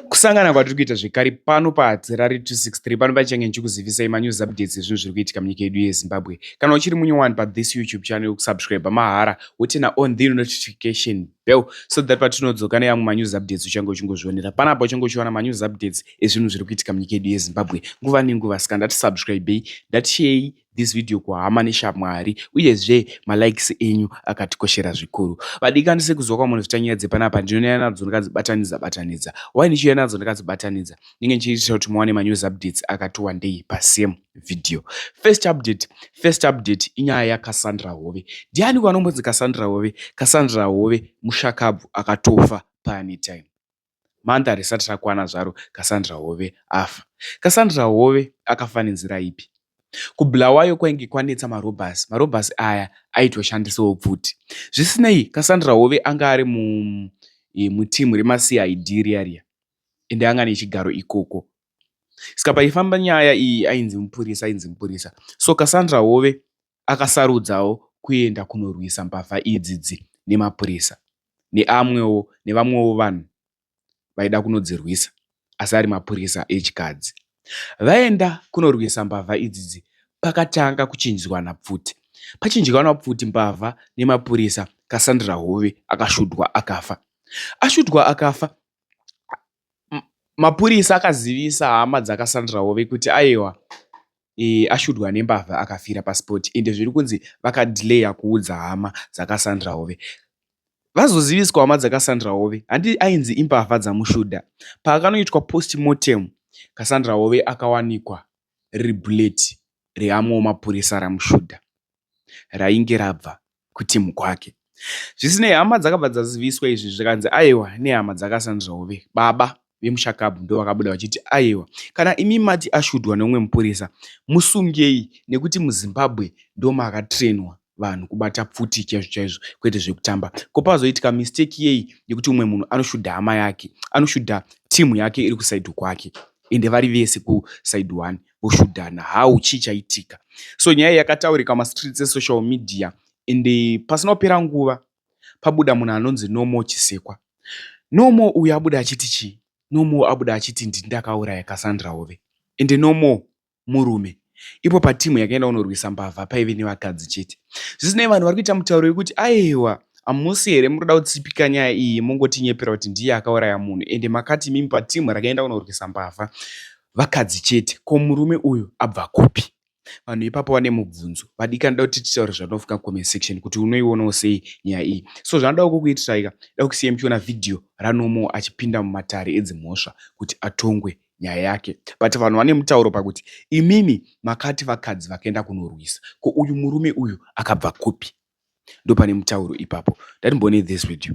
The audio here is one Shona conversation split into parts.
Kusangana kwatiri kuita zvekare pano paHadzirari 263 pano pachenge ndichikuzivisai manews updates ezvinhu zviri kuitika munyika yedu yeZimbabwe. Kana uchiri munyowani pathis YouTube channel kusubscribe mahara wotena on the notification bell so that patinodzoka neamwe manews updates uchange uchingozvionera panapa uchange uchiwana manews updates ezvinhu zviri kuitika munyika yedu yeZimbabwe nguva nenguva saka ndati subscribei ndatisheyi this video kuhama neshamwari uyezve malikes enyu akatikoshera zvikuru vadikani sekuziva kwamunhu zvitanyaya dzepanapa ndinonyaya nadzo ndikadzibatanidza batanidza why ndichiuya nadzo ndikadzibatanidza ndinge ndichiitira kuti muwane manews updates akati wandei pasame video first update first update inyaya yacasandra hove ndiani kwanombonzi casandra hove casandra hove mushakabvu akatofa paanytime Month harisati rakwana zvaro Cassandra Hove afa. Cassandra Hove akafa nenzira ipi? KuBulawayo kwainge kwanetsa marobhasi. Marobhasi aya aitoshandisawo pfuti. Zvisinei, Cassandra Hove anga ari mu e, mutimu remaCID riya riya ende anga nechigaro ikoko. Saka paifamba nyaya iyi ainzi mupurisa, ainzi mupurisa. So Cassandra Hove akasarudzawo kuenda kunorwisa mbavha idzidzi nemapurisa neamwewo nevamwewo vanhu vaida kunodzirwisa asi ari mapurisa echikadzi. Vaenda kunorwisa mbavha idzidzi pakatanga kuchinjwana pfuti. Pachinjwana pfuti mbavha nemapurisa Cassandra Hove akashudwa akafa. Ashudwa akafa Mapurisa akazivisa hama dzaKassandra Hove kuti aiwa e, ashudwa nembavha akafira pasport ende zviri kunzi vakadelayer kuudza hama dzaKassandra Hove. Vazoziviswa hama dzaKassandra Hove handi ainzi imbavha dzamushuda. Paakanoitwa postmortem, Kassandra Hove akawanikwa riri bullet reamwewo mapurisa ramushuda rainge rabva kuteam kwake. Zvisinei, hama dzakabva dzaziviswa izvi zvikanzi aiwa nehama dzakaSandra Hove. Baba vemushakabvu ndovakabuda vachiti aiwa kana imi mati ashudhwa neumwe mupurisa musungei nekuti muzimbabwe ndomakatrainwa vanhu kubata pfuti chaizvo chaizvo kwete zvekutamba ko pazoitika mistake yei yekuti umwe munhu anoshudha hama yake anoshudha timu yake iri kusaidhu kwake ende vari vese kusaidhu one voshudhana how chii chaitika so nyaya yakataurika mastreets esocial media and eh, pasina kupera nguva pabuda munhu anonzi nomo chisekwa nomo uyu abuda achiti chii nomo abuda achiti ndini ndakauraya cassandra hove and nomo murume ipo patimu yakaenda kunorwisa mbavha paive nevakadzi chete zvisinei vanhu vari kuita mutauro wekuti aiwa hamusi here muri kuda kutsipika nyaya iyi mongotinyepera kuti ndiye akauraya munhu ende makati mimi patimu rakaenda kunorwisa mbavha Vakadzi chete ko murume uyu abva kupi? Vanhu ipapo vane mubvunzo. Vadikani ndoda kuti titaure zvatinofunga comment section kuti unoionawo sei nyaya iyi. So zvanodawo kukuitirai ka, ndoda kusiya muchiona video raNomo achipinda mumatare edzimhosva kuti atongwe nyaya yake. But vanhu vane mutauro pakuti imimi makati vakadzi vakaenda kunorwisa. Ko uyu murume uyu akabva kupi? ndopane mutauro ipapo ndati mbone this video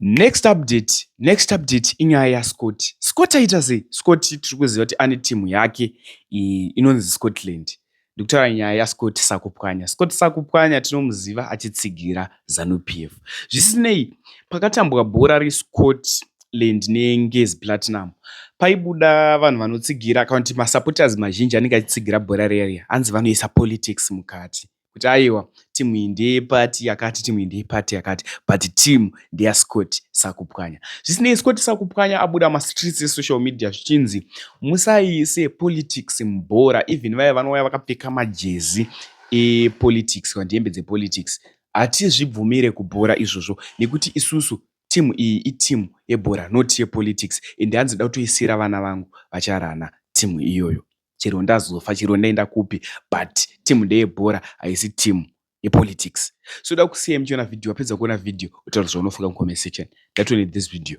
next update next update inyaya yascott scott aita sei scott tiri kuziva kuti ane timu yake inonzi scotland ndikutaura nyaya yascott sakupwanya scott sakupwanya tinomuziva achitsigira zanu p f zvisinei pakatambwa bhora rescott land nengezi platinum paibuda vanhu vanotsigira kana kuti masupporters mazhinji anenge achitsigira bhora reria hanzi vanoisa politics mukati kuti aiwa team iyi ndeye party yakati team iyi ndeye party yakati but team ndeya scott sakupwanya zvisinei scott sakupwanya abuda mastreets esocial media zvichinzi musaiise politics mubhora even vaye vanouya vakapfeka majezi epolitics kana hembe dzepolitics hatizvibvumire kubhora izvozvo nekuti isusu timu iyi itimu yebhora not yepolitics and hanzi da kutoisira vana vangu vacharana timu iyoyo chero ndazofa chero ndaenda kupi but team ndeyebhora haisi team yepolitics so da kusiya muchiona video wapedza kuona video utaura zvaunofunga mucomment section ndatone this video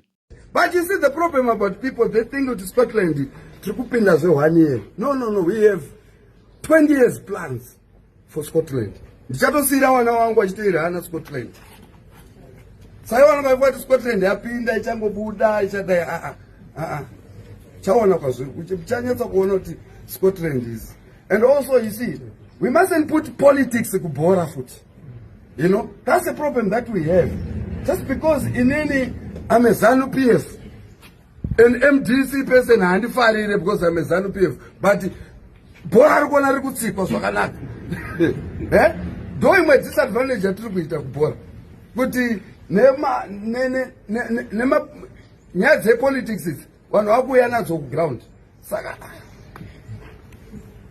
but you see the problem about people they think kuti scotland tiri kupinda zvehwani here no no no we have 20 years plans for scotland ndichatosiira vana wangu achitoira hana scotland saivo vanhu vaiva kuti scotland yapinda ichangobuda ichadai aa ah, aa ah, ah, chaona kwazviri uchanyatsa kuona kuti scotland is and also you see we mustn't put politics kubhora futi you know that's a problem that we have just because inini amezanu p f An MDC person handifarire because I'm a Zanu PF but bhora ri kuona ri kutsikwa zvakanaka. Eh? Ndo imwe disadvantage yatiri kuita kubhora. Kuti nema ne ne ne nema nyaya dzepolitics idzi vanhu vakuuya nadzo kuground. saka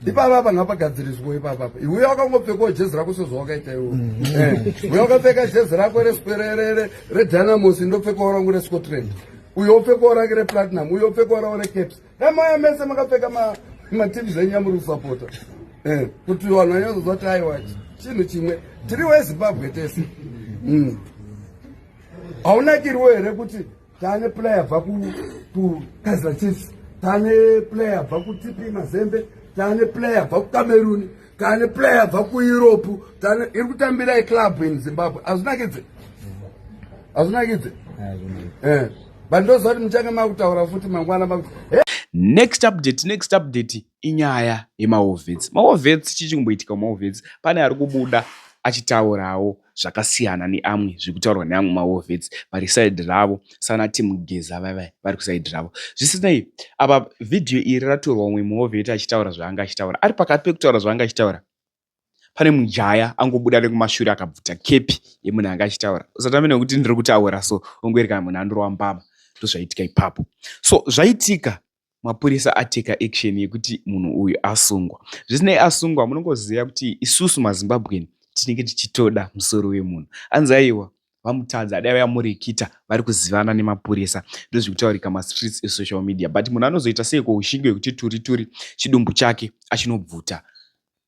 ipapa apa ngapagadziriswa ipapa apa iwe wakangopfekawo jezi rako sezvo wakaita iwe mm. eh, uye wakapfeka jezi rako redynamos ndopfekawo rangu rescotland uye wopfekawo rake replatinum uye wopfekawo rawo recaps emaya mese makapfeka mativi zvenyu amuri kusapota eh, kuti vanhu vanyazoziva ti aiwa chinhu chimwe tiri wezimbabwe tese mm. haunakiriwo here kuti tane player bva kukaizer chiefs tane player bva kutp mazembe tane player bva kucameruni tane player bva kueurope tane iri kutambira eclub in zimbabwe azvinakidze azvinakidze eh, but ndoziva kuti muchange makutaura futi mangwana makuti next update next update inyaya yemaovets maovets chii chikumboitika mumaovets pane ari kubuda achitaurawo zvakasiyana neamwe zviri kutaurwa neamwe maovets vari side ravo sana timugeza vaiva vari kuside ravo zvisinei apa vhidhiyo iri ratorwa umwe muoveti achitaura zvaanga achitaura ari pakati pekutaura zvaanga achitaura pane mujaya angobuda nekumashure akabvuta kepi yemunhu anga achitaura usatambe nekuti ndiri kutaura so ongoerekana munhu andorwa mbama ndozvaitika ipapo so zvaitika mapurisa ateka action yekuti munhu uyu asungwa zvisinei asungwa munongoziva kuti isusu mazimbabweni tinenge tichitoda musoro wemunhu anzi aiwa vamutadza adai vayamurikita vari kuzivana nemapurisa ndozvikutaurika mastreets esocial media but munhu anozoita seiko ushingi wekuti turi turi chidumbu chake achinobvuta